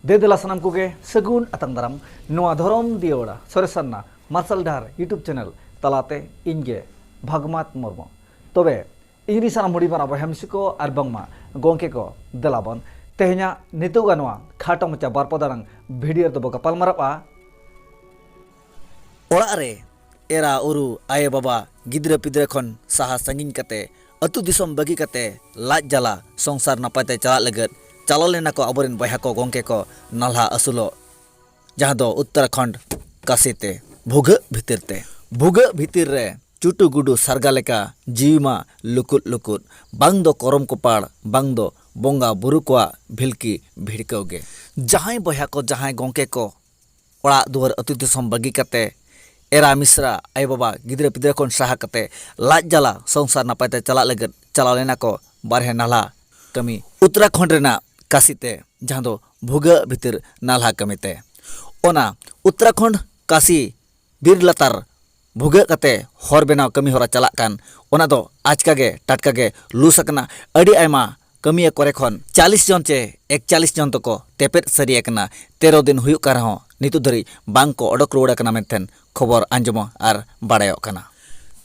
ᱫᱮ ᱫᱮᱞᱟ ᱥᱟᱱᱟᱢ ᱠᱚᱜᱮ ᱥᱟᱹᱜᱩᱱ ᱟᱛᱟᱝ ᱫᱟᱨᱟᱢ ᱱᱚᱣᱟ ᱫᱷᱚᱨᱚᱢ ᱫᱤᱭᱟᱹᱲᱟ ᱥᱚᱨᱮᱥᱟᱱᱱᱟ ᱢᱟᱨᱥᱟᱞ ᱰᱟᱦᱟᱨ ᱤᱭᱩᱴᱩᱵᱽ ᱪᱮᱱᱮᱞ ᱛᱟᱞᱟᱛᱮ ᱤᱧ ᱜᱮ ᱵᱷᱟᱜᱽᱢᱟᱛ ᱢᱩᱨᱢᱩ ᱛᱚᱵᱮ ᱤᱧ ᱨᱤᱱ ᱥᱟᱱᱟᱢ ᱦᱩᱰᱤᱧ ᱢᱟᱨᱟᱝ ᱵᱚᱭᱦᱟ ᱢᱤᱥᱤ ᱠᱚ ᱟᱨ ᱵᱟᱝᱢᱟ ᱜᱚᱝᱠᱮ ᱠᱚ ᱫᱮᱞᱟ ᱵᱚᱱ ᱛᱮᱦᱮᱧᱟᱜ ᱱᱤᱛᱚᱜᱟᱜ ᱱᱚᱣᱟ ᱠᱷᱟᱴᱚ ᱢᱟᱪᱟ ᱵᱟᱨ ᱯᱚᱫ ᱟᱲᱟᱝ ᱵᱷᱤᱰᱤᱭᱳ ᱨᱮᱫᱚ ᱵᱚ ᱜᱟᱯᱟᱞ ᱢᱟᱨᱟᱜᱼᱟ ᱚᱲᱟᱜ ᱨᱮ ᱮᱨᱟ ᱩᱨᱩ ᱟᱭᱳ ᱵᱟᱵᱟ ᱜᱤᱫᱽᱨᱟᱹ ᱯᱤᱫᱽᱨᱟᱹ ᱠᱷᱚᱱ ᱥᱟᱦᱟ ᱥᱟᱺᱜᱤᱧ ᱠᱟᱛᱮ ᱟᱹᱛᱩ ᱫᱤᱥᱚᱢ ᱵᱟᱹᱜᱤ ᱠᱟᱛᱮ ᱞᱟᱡ ᱡᱟᱞᱟ ᱥᱚᱝᱥᱟᱨ ᱱᱟᱯᱟᱭ ᱛᱮ ᱪᱟᱞᱟᱜ ᱞᱟᱹᱜᱤᱫ ᱪᱟᱞᱟᱣ ᱞᱮᱱᱟ ᱠᱚ ᱟᱵᱚᱨᱮᱱ ᱵᱚᱭᱦᱟ ᱠᱚ ᱜᱚᱢᱠᱮ ᱠᱚ ᱱᱟᱞᱦᱟ ᱟᱹᱥᱩᱞᱚᱜ ᱡᱟᱦᱟᱸ ᱫᱚ ᱩᱛᱛᱚᱨᱟᱠᱷᱚᱸᱰ ᱠᱟᱥᱤ ᱛᱮ ᱵᱷᱩᱜᱟᱹᱜ ᱵᱷᱤᱛᱤᱨ ᱛᱮ᱾ ᱵᱷᱩᱜᱟᱹᱜ ᱵᱷᱤᱛᱤᱨ ᱨᱮ ᱪᱩᱴᱩ ᱜᱩᱰᱩ ᱥᱟᱨᱜᱟ ᱞᱮᱠᱟ ᱡᱤᱣᱤ ᱢᱟ ᱞᱩᱠᱩᱫ ᱞᱩᱠᱩᱫ᱾ ᱵᱟᱝ ᱫᱚ ᱠᱚᱨᱚᱢ ᱠᱚᱯᱟᱲ ᱵᱟᱝ ᱫᱚ ᱵᱚᱸᱜᱟ ᱵᱩᱨᱩ ᱠᱚᱣᱟᱜ ᱵᱷᱤᱞᱠᱤ ᱵᱷᱤᱲᱠᱟᱹᱣ ᱜᱮ᱾ ᱡᱟᱦᱟᱸᱭ ᱵᱚᱭᱦᱟ ᱠᱚ ᱡᱟᱦᱟᱸᱭ ᱜᱚᱢᱠᱮ ᱠᱚ ᱚᱲᱟᱜ ᱫᱩᱣᱟᱹᱨ ᱟᱹᱛᱩ ᱫᱤᱥᱚᱢ ᱵᱟᱹᱜᱤ ᱠᱟᱛᱮ ᱮᱨᱟ ᱢᱤᱥᱨᱟ ᱟᱭᱳ ᱵᱟᱵᱟ ᱜᱤᱫᱽᱨᱟᱹ ᱯᱤᱫᱽᱨᱟᱹ ᱠᱷᱚᱱ ᱥᱟᱦᱟ ᱠᱟᱛᱮ ᱞᱟᱡ ᱡᱟᱞᱟ ᱥᱚᱝᱥᱟᱨ ᱱᱟᱯᱟᱭ ᱛᱮ ᱪᱟᱞᱟᱜ ᱞᱟᱹᱜᱤᱫ ᱪᱟᱞᱟᱣ ᱞᱮᱱᱟ ᱠᱚ ᱵᱟᱨᱦᱮ ᱱᱟᱞᱦᱟ ᱠᱟᱹᱢᱤ ᱩᱛᱛᱚᱨᱟᱠᱷᱚᱸᱰ ᱨᱮᱱᱟᱜ ᱠᱟᱥᱤ ᱛᱮ ᱡᱟᱦᱟᱸ ᱫᱚ ᱵᱷᱩᱜᱟᱹᱜ ᱵᱷᱤᱛᱤᱨ ᱱᱟᱞᱦᱟ ᱠᱟᱹᱢᱤ ᱛᱮ ᱚᱱᱟ ᱩᱛᱛᱚᱨᱟᱠᱷᱚᱸᱰ ᱠᱟᱥᱤ ᱵᱤᱨ ᱞᱟᱛᱟᱨ ᱵᱷᱩᱜᱟᱹᱜ ᱠᱟᱛᱮ ᱦᱚᱨ ᱵᱮᱱᱟᱣ ᱠᱟᱹᱢᱤ ᱦᱚᱨᱟ ᱪᱟᱞᱟᱜ ᱠᱟᱱ ᱚᱱᱟ ᱫᱚ ᱟᱪᱠᱟ ᱜᱮ ᱴᱟᱴᱠᱟ ᱜᱮ ᱞᱩᱥ ᱟᱠᱟᱱᱟ ᱟᱹᱰᱤ ᱟᱭᱢᱟ ᱠᱟᱹᱢᱤᱭᱟᱹ ᱠᱚᱨᱮ ᱠᱷᱚᱱ ᱪᱟᱞᱤᱥ ᱡᱚᱱ ᱪᱮ ᱮᱠᱪᱟᱞᱤᱥ ᱡᱚᱱ ᱫᱚᱠᱚ ᱛᱮᱯᱮᱫ ᱥᱟᱹᱨᱤ ᱟᱠᱟᱱᱟ ᱛᱮᱨᱚ ᱫᱤᱱ ᱦᱩᱭᱩᱜ ᱠᱟᱱ ᱨᱮᱦᱚᱸ ᱱᱤᱛᱚᱜ ᱫᱷᱟᱹᱨᱤᱡ ᱵᱟᱝ ᱠᱚ ᱚᱰᱚᱠ ᱨᱩᱣᱟᱹᱲ ᱟᱠᱟᱱᱟ ᱢᱮᱱᱛᱮ ᱠᱷᱚᱵᱚᱨ ᱟᱸᱡᱚᱢᱚᱜ ᱟᱨ ᱵᱟᱰᱟᱭᱚᱜ ᱠᱟᱱᱟ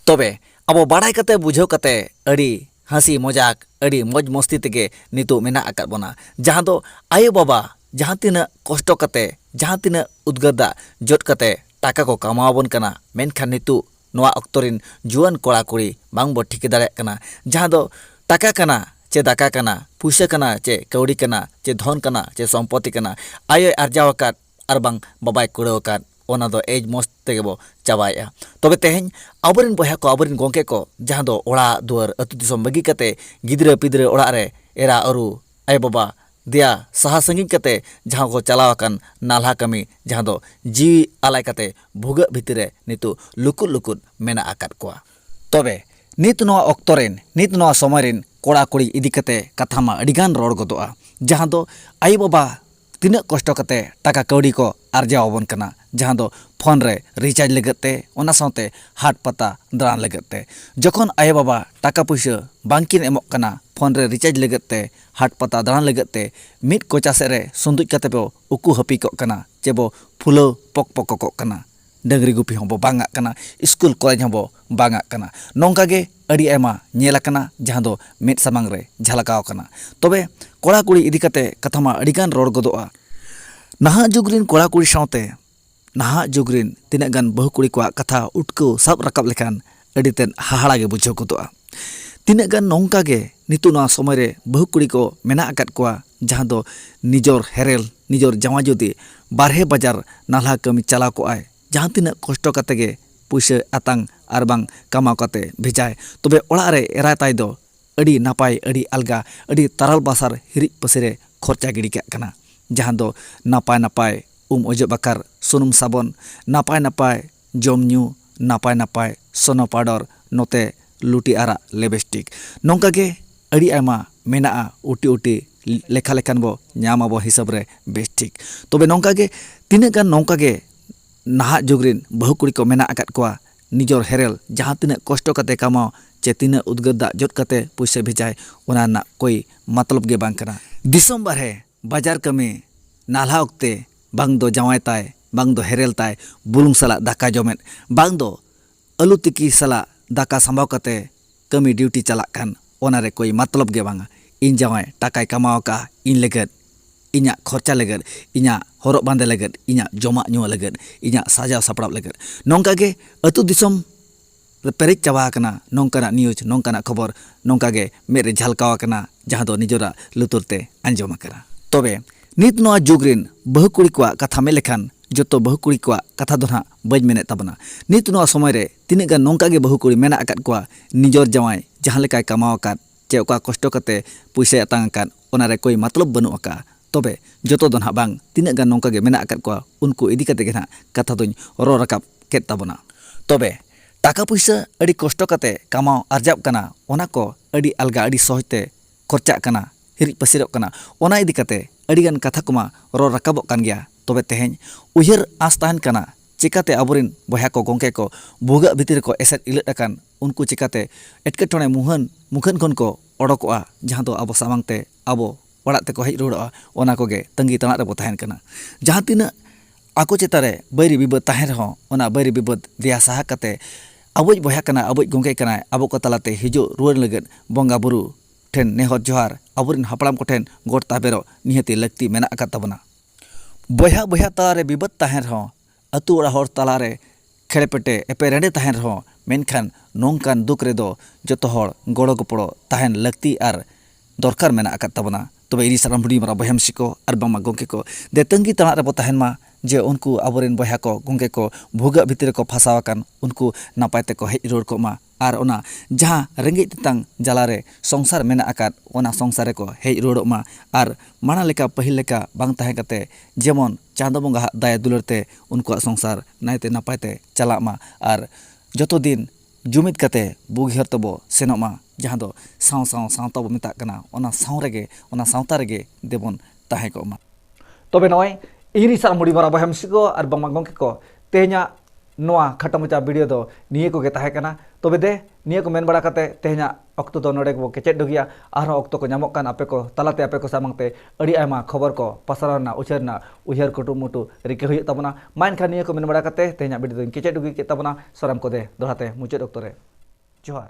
ᱛᱚᱵᱮ ᱟᱵᱚ ᱵᱟᱰᱟᱭ ᱠᱟᱛᱮ ᱵᱩᱡᱷᱟᱹᱣ ᱠᱟᱛᱮ ᱟᱹᱰᱤ ᱦᱟᱹᱥᱤ ᱢᱚᱡᱟᱠ ᱟᱹᱰᱤ ᱢᱚᱡᱽ ᱢᱚᱥᱛᱤ ᱛᱮᱜᱮ ᱱᱤᱛᱚᱜ ᱢᱮᱱᱟᱜ ᱟᱠᱟᱫ ᱵᱚᱱᱟ ᱡᱟᱦᱟᱸ ᱫᱚ ᱟᱭᱳ ᱵᱟᱵᱟ ᱡᱟᱦᱟᱸ ᱛᱤᱱᱟᱹᱜ ᱠᱚᱥᱴᱚ ᱠᱟᱛᱮ ᱡᱟᱦᱟᱸ ᱛᱤᱱᱟᱹᱜ ᱩᱫᱽᱜᱟᱹᱨ ᱫᱟᱜ ᱡᱚᱫ ᱠᱟᱛᱮ ᱴᱟᱠᱟ ᱠᱚ ᱠᱟᱢᱟᱣ ᱟᱵᱚᱱ ᱠᱟᱱᱟ ᱢᱮᱱᱠᱷᱟᱱ ᱱᱤᱛᱚᱜ ᱱᱚᱣᱟ ᱚᱠᱛᱚ ᱨᱤᱱ ᱡᱩᱣᱟᱹᱱ ᱠᱚᱲᱟ ᱠᱩᱲᱤ ᱵᱟᱝ ᱵᱚ ᱴᱷᱤᱠᱟᱹ ᱫᱟᱲᱮᱭᱟᱜ ᱠᱟᱱᱟ ᱡᱟᱦᱟᱸ ᱫᱚ ᱴᱟᱠᱟ ᱠᱟᱱᱟ ᱪᱮ ᱫᱟᱠᱟ ᱠᱟᱱᱟ ᱯᱩᱭᱥᱟᱹ ᱠᱟᱱᱟ ᱪᱮ ᱠᱟᱹᱣᱰᱤ ᱠᱟᱱᱟ ᱪᱮ ᱫᱷᱚᱱ ᱠᱟᱱᱟ ᱪᱮ ᱥᱚᱢᱯᱚᱛᱤ ᱠᱟᱱᱟ ᱟᱡ ᱮ ᱟᱨᱡᱟᱣ ᱟᱠᱟᱫ ᱟᱨ ᱵᱟᱝ ᱵᱟᱵᱟᱭ ᱠᱩᱲᱟᱹᱣ ᱟᱠᱟᱫ ᱚᱱᱟ ᱫᱚ ᱮᱭ ᱢᱚᱡᱽ ᱛᱮᱜᱮ ᱵᱚ ᱪᱟᱵᱟᱭᱮᱜᱼᱟ ᱛᱚᱵᱮ ᱛᱮᱦᱮᱧ ᱟᱵᱚ ᱨᱮᱱ ᱵᱚᱭᱦᱟ ᱠᱚ ᱟᱵᱚ ᱨᱮᱱ ᱜᱚᱢᱠᱮ ᱠᱚ ᱡᱟᱦᱟᱸ ᱫᱚ ᱚᱲᱟᱜ ᱫᱩᱣᱟᱹᱨ ᱟᱛᱳ ᱫᱤᱥᱚᱢ ᱵᱟᱹᱜᱤ ᱠᱟᱛᱮᱫ ᱜᱤᱫᱽᱨᱟᱹ ᱯᱤᱫᱽᱨᱟᱹ ᱚᱲᱟᱜ ᱨᱮ ᱮᱨᱟ ᱩᱨᱩ ᱟᱭᱳ ᱵᱟᱵᱟ ᱫᱮᱭᱟ ᱥᱟᱦᱟ ᱥᱟᱺᱜᱤᱧ ᱠᱟᱛᱮᱫ ᱡᱟᱦᱟᱸ ᱠᱚ ᱪᱟᱞᱟᱣ ᱟᱠᱟᱱ ᱱᱟᱞᱦᱟ ᱠᱟᱹᱢᱤ ᱡᱟᱦᱟᱸ ᱫᱚ ᱡᱤᱣᱤ ᱟᱞᱟᱭ ᱠᱟᱛᱮᱫ ᱵᱷᱩᱜᱟᱹᱜ ᱵᱷᱤᱛᱤᱨ ᱨᱮ ᱱᱤᱛᱚᱜ ᱞᱩᱠᱩᱜ ᱞᱩᱠᱩᱜ ᱢᱮᱱᱟᱜ ᱟᱠᱟᱫ ᱠᱚᱣᱟ ᱛᱚᱵᱮ ᱱᱤᱛ ᱱᱚᱣᱟ ᱚᱠᱛᱚ ᱨᱮᱱ ᱱᱤᱛ ᱱᱚᱣᱟ ᱥᱚᱢᱚᱭ ᱨᱮᱱ ᱠᱚᱲᱟ ᱠᱩᱲᱤ ᱤᱫᱤ ᱠᱟᱛᱮᱫ ᱠᱟᱛᱷᱟ ᱢᱟ ᱟᱹᱰᱤ ᱜᱟᱱ ᱨᱚᱲ ᱜᱚᱫᱚᱜᱼᱟ ᱡᱟᱦᱟᱸ ᱫᱚ ᱟᱭᱳ ᱵᱟᱵᱟ ᱛᱤᱱᱟᱹᱜ ᱠᱚᱥᱴᱚ ᱠᱟᱛᱮ ᱴᱟᱠᱟ ᱠᱟᱹᱣᱰᱤ ᱠᱚ ᱟᱨᱡᱟᱣ ᱟᱵᱚᱱ ᱠᱟᱱᱟ ᱡᱟᱦᱟᱸ ᱫᱚ ᱯᱷᱳᱱ ᱨᱮ ᱨᱤᱪᱟᱨᱡᱽ ᱞᱟᱹᱜᱤᱫ ᱛᱮ ᱚᱱᱟ ᱥᱟᱶᱛᱮ ᱦᱟᱴ ᱯᱟᱛᱟ ᱫᱟᱬᱟᱱ ᱞᱟᱹᱜᱤᱫ ᱛᱮ ᱡᱚᱠᱷᱚᱱ ᱟᱭᱳ ᱵᱟᱵᱟ ᱴᱟᱠᱟ ᱯᱩᱭᱥᱟᱹ ᱵᱟᱝ ᱠᱤᱱ ᱮᱢᱚᱜ ᱠᱟᱱᱟ ᱯᱷᱳᱱ ᱨᱮ ᱨᱤᱪᱟᱨᱡᱽ ᱞᱟᱹᱜᱤᱫ ᱛᱮ ᱦᱟᱴ ᱯᱟᱛᱟ ᱫᱟᱬᱟᱱ ᱞᱟᱹᱜᱤᱫ ᱛᱮ ᱢᱤᱫ ᱠᱚᱪᱟ ᱥᱮᱫ ᱨᱮ ᱥᱩᱸᱫᱩᱡ ᱠᱟᱛᱮ ᱵᱚ ᱩᱠᱩ ᱦᱟᱹᱯᱤ ᱠᱚᱜ ᱠᱟᱱᱟ ᱪᱮ ᱵᱚ ᱯᱷᱩᱞᱟᱹᱣ ᱯᱚᱠ ᱯᱚᱠᱚᱜ ᱠᱟᱱᱟ ᱰᱟᱹᱝᱨᱤ ᱜᱩᱯᱤ ᱦᱚᱸᱵᱚ ᱵᱟᱝ ᱟᱜ ᱠᱟᱱᱟ ᱤᱥᱠᱩᱞ ᱠᱚᱞᱮᱡᱽ ᱦᱚᱸᱵᱚ ᱵᱟᱝ ᱟᱜ ᱠᱟᱱᱟ ᱱᱚᱝᱠᱟ ᱜᱮ ᱟᱹᱰᱤ ᱟᱭᱢᱟ ᱧᱮᱞ ᱟᱠᱟᱱᱟ ᱡᱟᱦᱟᱸ ᱫᱚ ᱢᱮᱫ ᱥᱟᱢᱟᱝ ᱨᱮ ᱡᱷᱟᱞᱠᱟᱣ ᱟᱠᱟᱱᱟ ᱛᱚᱵᱮ ᱠᱚᱲᱟ ᱠᱩᱲᱤ ᱤᱫᱤ ᱠᱟᱛᱮ ᱠᱟᱛᱷᱟ ᱢᱟ ᱟᱹᱰᱤ ᱜᱟᱱ ᱨᱚᱲ ᱜᱚᱫᱚᱜᱼᱟ ᱱᱟᱦᱟᱜ ᱡᱩᱜᱽ ᱨᱮᱱ ᱠᱚᱲᱟ ᱠᱩᱲᱤ ᱥᱟᱶᱛᱮ ᱱᱟᱦᱟᱜ ᱡᱩᱜᱽ ᱨᱮᱱ ᱛᱤᱱᱟᱹᱜ ᱜᱟᱱ ᱵᱟᱹᱦᱩ ᱠᱩᱲᱤ ᱠᱚᱣᱟᱜ ᱠᱟᱛᱷᱟ ᱩᱴᱠᱟᱹᱣ ᱥᱟᱵ ᱨᱟᱠᱟᱵ ᱞᱮᱠᱷᱟᱱ ᱟᱹᱰᱤ ᱛᱮᱫ ᱦᱟᱦᱟᱲᱟ ᱜᱮ ᱵᱩᱡᱷᱟᱹᱣ ᱜᱚᱫᱚᱜᱼᱟ ᱛᱤᱱᱟᱹᱜ ᱜᱟᱱ ᱱᱚᱝᱠᱟ ᱜᱮ ᱱᱤᱛᱚᱜ ᱱᱚᱣᱟ ᱥᱚᱢᱚᱭ ᱨᱮ ᱵᱟᱹᱦᱩ ᱠᱩᱲᱤ ᱠᱚ ᱢᱮᱱᱟᱜ ᱟᱠᱟᱫ ᱠᱚᱣᱟ ᱡᱟᱦᱟᱸ ᱫᱚ ᱱᱤᱡᱚᱨ ᱦᱮᱨᱮᱞ ᱱᱤᱡᱚᱨ ᱡᱟᱶᱟᱭ ᱡᱩᱫᱤ ᱵᱟᱨᱦᱮ ᱵᱟᱡᱟᱨ ᱱᱟᱞᱦᱟ ᱠᱟᱹᱢᱤ ᱪᱟᱞᱟᱣ ᱠᱚᱜ ᱟᱭ ᱡᱟᱦᱟᱸ ᱛᱤᱱᱟᱹᱜ ᱠᱚᱥᱴᱚ ᱠᱟᱛᱮ ᱜᱮ ᱯᱩᱭᱥᱟᱹ ᱟᱛᱟᱝ ᱟᱨ ᱵᱟᱝ ᱠᱟᱢᱟᱣ ᱠᱟᱛᱮ ᱵᱷᱮᱡᱟᱭ ᱛᱚᱵᱮ ᱚᱲᱟᱜ ᱨᱮ ᱮᱨᱟ ᱛᱟᱭ ᱫᱚ ᱟᱹᱰᱤ ᱱᱟᱯᱟᱭ ᱟᱹᱰᱤ ᱟᱞᱜᱟ ᱟᱹᱰᱤ ᱛᱟᱨᱟᱞ ᱵᱟᱥᱟᱨ ᱦᱤᱨᱤᱡ ᱯᱟᱹᱥᱤᱨ ᱨᱮ ᱠᱷᱚᱨᱪᱟ ᱜᱤᱰᱤ ᱠᱟᱜ ᱠᱟᱱᱟ ᱡᱟᱦᱟᱸ ᱫᱚ ᱱᱟᱯᱟᱭ ᱱᱟᱯᱟᱭ ᱩᱢ ᱚᱡᱚᱜ ᱵᱟᱠᱷᱟᱨ ᱥᱩᱱᱩᱢ ᱥᱟᱵᱚᱱ ᱱᱟᱯᱟᱭ ᱱᱟᱯᱟᱭ ᱡᱚᱢ ᱧᱩ ᱱᱟᱯᱟᱭ ᱱᱟᱯᱟᱭ ᱥᱚᱱᱚ ᱯᱟᱣᱰᱟᱨ ᱱᱚᱛᱮ ᱞᱩᱴᱤ ᱟᱨᱟᱜ ᱞᱮᱵᱮᱥᱴᱤᱠ ᱱᱚᱝᱠᱟ ᱜᱮ ᱟᱹᱰᱤ ᱟᱭᱢᱟ ᱢᱮᱱᱟᱜᱼᱟ ᱩᱴᱤ ᱩᱴᱤ ᱞᱮᱠᱷᱟ ᱞᱮᱠᱷᱟᱱ ᱵᱚ ᱧᱟᱢ ᱟᱵᱚ ᱦᱤᱥᱟᱹᱵ ᱨᱮ ᱵᱮᱥ ᱴᱷᱤᱠ ᱛᱚᱵᱮ ᱱᱚᱝᱠᱟ ᱜᱮ ᱛᱤᱱᱟᱹᱜ ᱜᱟᱱ ᱱᱚᱝᱠᱟ ᱜᱮ ᱱᱟᱦᱟᱜ ᱡᱩᱜᱽ ᱨᱮᱱ ᱵᱟᱹᱦᱩ ᱠᱩᱲᱤ ᱠᱚ ᱢᱮᱱᱟᱜ ᱟᱠᱟᱫ ᱠᱚᱣᱟ ᱱᱤᱡᱚᱨ ᱦᱮᱨᱮᱞ ᱡᱟᱦᱟᱸ ᱛᱤᱱᱟᱹᱜ ᱠᱚᱥᱴᱚ ᱠᱟᱛᱮ ᱠᱟᱢᱟᱣ ᱪᱮ ᱛᱤᱱᱟᱹᱜ ᱩᱫᱽᱜᱟᱹᱨ ᱫᱟᱜ ᱡᱚᱫ ᱠᱟᱛᱮ ᱯᱩᱭᱥᱟᱹ ᱵᱷᱮᱡᱟᱭ ᱚᱱᱟ ᱨᱮᱱᱟᱜ ᱠᱳᱭ ᱢᱚᱛᱞᱚᱵ ᱜᱮ ᱵᱟᱝ ᱠᱟᱱᱟ ᱫᱤᱥᱚᱢ ᱵᱟᱨᱦᱮ ᱵᱟᱡᱟᱨ ᱠᱟᱹᱢᱤ ᱱᱟᱞᱦᱟ ᱚᱠᱛᱮ ᱵᱟᱝ ᱫᱚ ᱡᱟᱶᱟᱭ ᱛᱟᱭ ᱵᱟᱝ ᱫᱚ ᱦᱮᱨᱮᱞ ᱛᱟᱭ ᱵᱩᱞᱩᱝ ᱥᱟᱞᱟᱜ ᱫᱟᱠᱟ ᱡᱚᱢᱮᱫ ᱵᱟᱝ ᱫᱚ ᱟᱹᱞᱩ ᱛᱤᱠᱤ ᱥᱟᱞᱟᱜ ᱫᱟᱠᱟ ᱥᱟᱢᱵᱟᱣ ᱠᱟᱛᱮ ᱠᱟᱹᱢᱤ ᱰᱤᱣᱴᱤ ᱪᱟᱞᱟᱜ ᱠᱟᱱ ᱚᱱᱟ ᱨᱮ ᱠᱳᱭ ᱢᱟᱛᱞᱚᱵᱽ ᱜᱮ ᱵᱟᱝᱼᱟ᱾ ᱤᱧ ᱡᱟᱶᱟᱭ ᱴᱟᱠᱟᱭ ᱠᱟᱢᱟᱣ ᱟᱠᱟᱫᱼᱟ ᱤᱧ ᱞᱟᱹᱜᱤᱫ, ᱤᱧᱟᱜ ᱠᱷᱚᱨᱪᱟ ᱞᱟᱹᱜᱤᱫ, ᱤᱧᱟᱜ ᱦᱚᱨᱚᱜ ᱵᱟᱸᱫᱮ ᱞᱟᱹᱜᱤᱫ, ᱤᱧᱟᱜ ᱡᱚᱢᱟᱜ ᱧᱩᱣᱟᱜ ᱞᱟᱹᱜᱤᱫ, ᱤᱧᱟᱜ ᱥᱟᱡᱟᱣ ᱥᱟᱯᱲᱟᱣ ᱞᱟᱹᱜᱤᱫ᱾ ᱱᱚᱝᱠᱟ ᱜᱮ ᱟᱹᱛᱩ ᱫᱤᱥᱚᱢ ᱨᱮ ᱯᱮᱨᱮᱡ ᱪᱟᱵᱟ ᱟᱠᱟᱱᱟ ᱱᱚᱝᱠᱟᱱᱟᱜ ᱱᱤᱭᱩᱡᱽ, ᱱᱚᱝᱠᱟᱱᱟᱜ ᱠᱷᱚᱵᱚᱨ ᱱᱚᱝᱠᱟ ᱜᱮ ᱢᱮᱫ ᱨᱮ ᱡᱷᱟᱞᱠᱟᱣ ᱟᱠᱟᱱᱟ ᱡᱟᱦᱟᱸ ᱫᱚ ᱱᱤᱡᱚᱨᱟᱜ ᱞᱩᱛᱩᱨ ᱛᱮ ᱟᱸᱡᱚᱢ ᱟᱠᱟᱱᱟ᱾ ᱛᱚᱵᱮ ᱱᱤᱛ ᱱᱚᱶᱟ ᱡᱩᱜᱽ ᱨᱤᱱ ᱵᱟᱹᱦᱩ ᱠᱩᱲᱤ ᱠᱚᱣᱟᱜ ᱠᱟᱛᱷᱟ ᱢᱮᱱ ᱞᱮᱠᱷᱟᱱ ᱡᱚᱛᱚ ᱵᱟᱹᱦᱩ ᱠᱩᱲᱤ ᱠᱚᱣᱟᱜ ᱠᱟᱛᱷᱟ ᱫᱚ ᱱᱷᱟᱜ ᱵᱟᱹᱧ ᱢᱮᱱᱮᱫ ᱛᱟᱵᱚᱱᱟ᱾ ᱱᱤᱛ ᱱᱚᱶᱟ ᱥᱚᱢᱚᱭ ᱨᱮ ᱛᱤᱱᱟᱹᱜ ᱜᱟᱱ ᱱᱚᱝᱠᱟ ᱜᱮ ᱵᱟᱹᱦᱩ ᱠᱩᱲᱤ ᱢᱮᱱᱟᱜ ᱟᱠᱟᱫ ᱠᱚᱣᱟ ᱱᱤᱡᱚᱨ ᱡᱟᱶᱟᱭ ᱡᱟᱦᱟᱸ ᱞᱮᱠᱟᱭ ᱠᱟᱢᱟᱣ ᱟᱠᱟᱫ ᱪᱮ ᱚᱠᱟ ᱠᱚᱥᱴᱚ ᱠᱟᱛᱮ ᱯᱩᱭᱥᱟᱭ ᱟᱛᱟᱝ ᱟᱠᱟᱫ ᱚᱱᱟ ᱨᱮ ᱠᱳᱭ ᱢᱟᱛᱞᱚᱵᱽ ᱵᱟᱹᱱᱩᱜ ᱟᱠᱟᱜᱼᱟ᱾ ᱛᱚᱵᱮ ᱡᱚᱛᱚ ᱫᱚ ᱱᱷᱟᱜ ᱵᱟᱝ ᱛᱤᱱᱟᱹᱜ ᱜᱟᱱ ᱱᱚᱝᱠᱟ ᱜᱮ ᱢᱮᱱᱟᱜ ᱟᱠᱟᱫ ᱠᱚᱣᱟ ᱩᱱᱠᱩ ᱤᱫᱤ ᱠᱟᱛᱮ ᱜᱮ ᱱᱷᱟᱜ ᱠᱟᱛᱷᱟ ᱫᱚᱧ ᱨᱚᱲ ᱨᱟᱠᱟᱵ ᱠᱮᱫ ᱛᱟᱵᱚᱱᱟ᱾ ᱛᱚᱵᱮ ᱴᱟᱠᱟ ᱯᱩᱭᱥᱟᱹ ᱟᱹᱰᱤ ᱠᱚᱥᱴᱚ ᱠᱟᱛᱮ ᱠᱟᱢᱟᱣ ᱟᱨᱡᱟᱣᱜ ᱠᱟᱱᱟ ᱚᱱᱟ ᱠᱚ ᱟᱹᱰᱤ ᱟᱞᱜᱟ ᱟᱹᱰᱤ ᱥᱚᱦᱚᱡᱽ ᱛᱮ ᱠᱷᱚᱨᱪᱟᱜ ᱠᱟᱱᱟ ᱦᱤᱨᱤᱡ ᱯᱟᱹᱥᱤᱨᱚᱜ ᱠᱟᱱᱟ ᱚᱱᱟ ᱤᱫᱤ ᱠᱟᱛᱮ ᱟᱹᱰᱤ ᱜᱟᱱ ᱠᱟᱛᱷᱟ ᱠᱚᱢᱟ ᱨᱚᱲ ᱨᱟᱠᱟᱵᱚᱜ ᱠᱟᱱ ᱜᱮᱭᱟ ᱛᱚᱵᱮ ᱛᱮᱦᱮᱧ ᱩᱭᱦᱟᱹᱨ ᱟᱸᱥ ᱛᱟᱦᱮᱸᱱ ᱠᱟᱱᱟ ᱪᱮᱠᱟᱛᱮ ᱟᱵᱚᱨᱤᱱ ᱵᱚᱭᱦᱟ ᱠᱚ ᱜᱚᱝᱠᱮ ᱠᱚ ᱵᱷᱩᱜᱟᱹᱜ ᱵᱷᱤᱛᱤᱨ ᱨᱮᱠᱚ ᱮᱥᱮᱫ ᱤᱞᱟᱹᱫ ᱟᱠᱟᱱ ᱩᱱᱠᱩ ᱪᱮᱠᱟᱛᱮ ᱮᱴᱠᱮᱴᱚᱬᱮ ᱢᱩᱦᱟᱹᱱ ᱢᱩᱠᱷᱟᱹᱱ ᱠᱷᱚᱱ ᱠᱚ ᱚᱰᱚᱠᱚᱜᱼᱟ ᱡᱟᱦᱟᱸ ᱫᱚ ᱟᱵᱚ ᱥᱟᱢᱟᱝ ᱛᱮ ᱟᱵᱚ ᱚᱲᱟᱜ ᱛᱮᱠᱚ ᱦᱮᱡ ᱨᱩᱣᱟᱹᱲᱚᱜᱼᱟ ᱚᱱᱟ ᱠᱚᱜᱮ ᱛᱟᱺᱜᱤ ᱛᱟᱬᱟᱜ ᱨᱮᱵᱚ ᱛᱟᱦᱮᱱ ᱠᱟᱱᱟ ᱡᱟᱦᱟᱸ ᱛᱤᱱᱟᱹᱜ ᱟᱠᱚ ᱪᱮᱛᱟᱱ ᱨᱮ ᱵᱟᱹᱭᱨᱤ ᱵᱤᱵᱟᱹᱫᱽ ᱛᱟᱦᱮᱱ ᱨᱮᱦᱚᱸ ᱚᱱᱟ ᱵᱟᱹᱭᱨᱤ ᱵᱤᱵᱟᱹᱫᱽ ᱫᱮᱭᱟ ᱥᱟᱦᱟ ᱠᱟᱛᱮ ᱟᱵᱚᱭᱤᱡ ᱵᱚᱭᱦᱟ ᱠᱟᱱᱟᱭ ᱟᱵᱚᱭᱤᱡ ᱜᱚᱢᱠᱮ ᱠᱟᱱᱟᱭ ᱟᱵᱚ ᱠᱚ ᱛᱟᱞᱟᱛᱮ ᱦᱤᱡᱩᱜ ᱨᱩᱣᱟᱹᱲ ᱞᱟᱹᱜᱤᱫ ᱵᱚᱸᱜᱟ ᱵᱩᱨᱩ ᱴᱷᱮᱱ ᱱᱮᱦᱚᱨ ᱡᱚᱦᱟᱨ ᱟᱵᱚ ᱨᱮᱱ ᱦᱟᱯᱲᱟᱢ ᱠᱚᱴᱷᱮᱱ ᱜᱚᱰ ᱛᱟᱵᱮᱨᱚᱜ ᱱᱤᱦᱟᱹᱛᱤ ᱞᱟᱹᱠᱛᱤ ᱢᱮᱱᱟᱜ ᱟᱠᱟᱫ ᱛᱟᱵᱚᱱᱟ ᱵᱚᱭᱦᱟ ᱵᱚᱭᱦᱟ ᱛᱟᱞᱟ ᱨᱮ ᱵᱤᱵᱟᱹᱫᱽ ᱛᱟᱦᱮᱱ ᱨᱮᱦᱚᱸ ᱟᱹᱛᱩ ᱚᱲᱟᱜ ᱦᱚᱲ ᱛᱟᱞᱟ ᱨᱮ ᱠᱷᱮᱲᱮᱯᱮᱴᱮ ᱮᱯᱮᱨᱦᱮᱸᱰᱮ ᱛᱟᱦᱮᱸᱱ ᱨᱮᱦᱚᱸ ᱢᱮᱱᱠᱷᱟᱱ ᱱᱚᱝᱠᱟᱱ ᱫᱩᱠ ᱨᱮ ᱫᱚ ᱡᱚᱛᱚ ᱦᱚᱲ ᱜᱚᱲᱚ ᱜᱚᱯᱚᱲᱚ ᱛᱟᱦᱮᱸᱱ ᱞᱟᱹᱠᱛᱤ ᱟᱨ ᱫᱚᱨᱠᱟᱨ ᱢᱮᱱᱟᱜ ᱟᱠᱟᱫ ᱛᱟᱵᱚᱱᱟ ᱛᱚᱵᱮ ᱤᱧ ᱥᱟᱱᱟᱢ ᱦᱩᱰᱤᱧ ᱢᱟᱨᱟᱝ ᱵᱚᱭᱦᱟ ᱢᱤᱥᱤ ᱠᱚ ᱟᱨ ᱵᱟᱝᱢᱟ ᱜᱚᱢᱠᱮ ᱠᱚ ᱫᱮ ᱛᱟᱹᱝᱜᱤ ᱛᱟᱲᱟᱜ ᱨᱮᱵᱚ ᱛᱟᱦᱮᱸᱱ ᱢᱟ ᱡᱮ ᱩᱱᱠᱩ ᱟᱵᱚᱨᱮᱱ ᱵᱚᱭᱦᱟ ᱠᱚ ᱜᱚᱢᱠᱮ ᱠᱚ ᱵᱷᱩᱜᱟᱹᱜ ᱵᱷᱤᱛᱤᱨ ᱨᱮᱠᱚ ᱯᱷᱟᱥᱟᱣ ᱟᱠᱟᱱ ᱩᱱᱠᱩ ᱱᱟᱯᱟᱭ ᱛᱮᱠᱚ ᱦᱮᱡ ᱨᱩᱣᱟᱹᱲ ᱠᱚᱜ ᱢᱟ ᱟᱨ ᱚᱱᱟ ᱡᱟᱦᱟᱸ ᱨᱮᱸᱜᱮᱡ ᱛᱮᱛᱟᱝ ᱡᱟᱞᱟ ᱨᱮ ᱥᱚᱝᱥᱟᱨ ᱢᱮᱱᱟᱜ ᱟᱠᱟᱫ ᱚᱱᱟ ᱥᱚᱝᱥᱟᱨ ᱨᱮᱠᱚ ᱦᱮᱡ ᱨᱩᱣᱟᱹᱲᱚᱜ ᱢᱟ ᱟᱨ ᱢᱟᱲᱟᱝ ᱞᱮᱠᱟ ᱯᱟᱹᱦᱤᱞ ᱞᱮᱠᱟ ᱵᱟᱝ ᱛᱟᱦᱮᱸ ᱠᱟᱛᱮᱫ ᱡᱮᱢᱚᱱ ᱪᱟᱸᱫᱚ ᱵᱚᱸᱜᱟ ᱦᱟᱜ ᱫᱟᱭᱟ ᱫᱩᱞᱟᱹᱲ ᱛᱮ ᱩᱱᱠᱩᱣᱟᱜ ᱥᱚᱝᱥᱟᱨ ᱱᱟᱭᱛᱮ ᱱᱟᱯᱟᱭ ᱛᱮ ᱪᱟᱞᱟᱜ ᱢᱟ ᱟᱨ ᱡᱚᱛᱚ ᱫᱤᱱ ᱡᱩᱢᱤᱫ ᱠᱟᱛᱮᱫ ᱵᱩᱜᱤ ᱦᱚᱨ ᱛᱮᱵᱚ ᱥᱮᱱᱚᱜ ᱢᱟ ᱡᱟᱦᱟᱸ ᱫᱚ ᱥᱟᱶ ᱥᱟᱶ ᱥᱟᱶᱛᱟ ᱵᱚᱱ ᱢᱮᱛᱟᱜ ᱠᱟᱱᱟ ᱚᱱᱟ ᱥᱟᱶ ᱨᱮᱜᱮ ᱚᱱᱟ ᱥᱟᱶᱛᱟ ᱨᱮᱜᱮ ᱫᱮᱵᱚᱱ ᱛᱟᱦᱮᱸ ᱠᱚᱜ ᱢᱟ ᱛᱚᱵᱮ ᱱᱚᱜᱼᱚᱭ ᱤᱧ ᱥᱟᱞ ᱢᱩᱲᱤ ᱢᱟᱨᱟ ᱵᱚᱭᱦᱟ ᱢᱤᱥᱤ ᱠᱚ ᱟᱨ ᱵᱟᱝᱢᱟ ᱜᱚᱢᱠᱮ ᱠᱚ ᱛᱮᱦᱮᱧᱟᱜ ᱱᱚᱣᱟ ᱠᱷᱟᱴᱚ ᱢᱚᱪᱟ ᱵᱷᱤᱰᱤᱭᱳ ᱫᱚ ᱱᱤᱭᱟᱹ ᱠᱚᱜᱮ ᱛᱟᱦᱮᱸ ᱠᱟᱱᱟ ᱛᱚᱵᱮ ᱫᱮ ᱱᱤᱭᱟᱹ ᱠᱚ ᱢᱮᱱ ᱵᱟᱲᱟ ᱠᱟᱛᱮ ᱛᱮᱦᱮᱧᱟᱜ ᱚᱠᱛᱚ ᱫᱚ ᱱᱚᱰᱮ ᱜᱮᱵᱚ ᱠᱮᱪᱮᱫ ᱰᱩᱜᱤᱭᱟ ᱟᱨᱦᱚᱸ ᱚᱠᱛᱚ ᱠᱚ ᱧᱟᱢᱚᱜ ᱠᱟᱱ ᱟᱯᱮ ᱠᱚ ᱛᱟᱞᱟᱛᱮ ᱟᱯᱮ ᱠᱚ ᱥᱟᱢᱟᱝ ᱛᱮ ᱟᱹᱰᱤ ᱟᱭᱢᱟ ᱠᱷᱚᱵᱚᱨ ᱠᱚ ᱯᱟᱥᱟᱨᱟᱣ ᱨᱮᱱᱟᱜ ᱩᱪᱟᱹᱨ ᱨᱮᱱᱟᱜ ᱩᱭᱦᱟᱹᱨ ᱠᱩᱴᱩᱢᱩᱴᱩ ᱨᱤᱠᱟᱹ ᱦᱩᱭᱩᱜ ᱛᱟᱵᱚᱱᱟ ᱢᱟ ᱮᱱᱠᱷᱟᱱ ᱱᱤᱭᱟᱹ ᱠᱚ ᱢᱮᱱ ᱵᱟᱲᱟ ᱠᱟᱛᱮ ᱛᱮᱦᱮᱧᱟᱜ ᱵᱷᱤᱰᱤᱭᱳ ᱫᱚᱧ ᱠᱮᱪᱮᱫ ᱰᱩᱜᱤ ᱠᱮᱫ ᱛᱟᱵᱚᱱᱟ ᱥᱚᱨᱟᱢ ᱠᱚ ᱫᱮ ᱫᱚᱦᱲᱟ ᱛᱮ ᱢᱩᱪᱟᱹᱫ ᱚᱠᱛᱚ ᱨᱮ ᱡᱚᱦᱟᱨ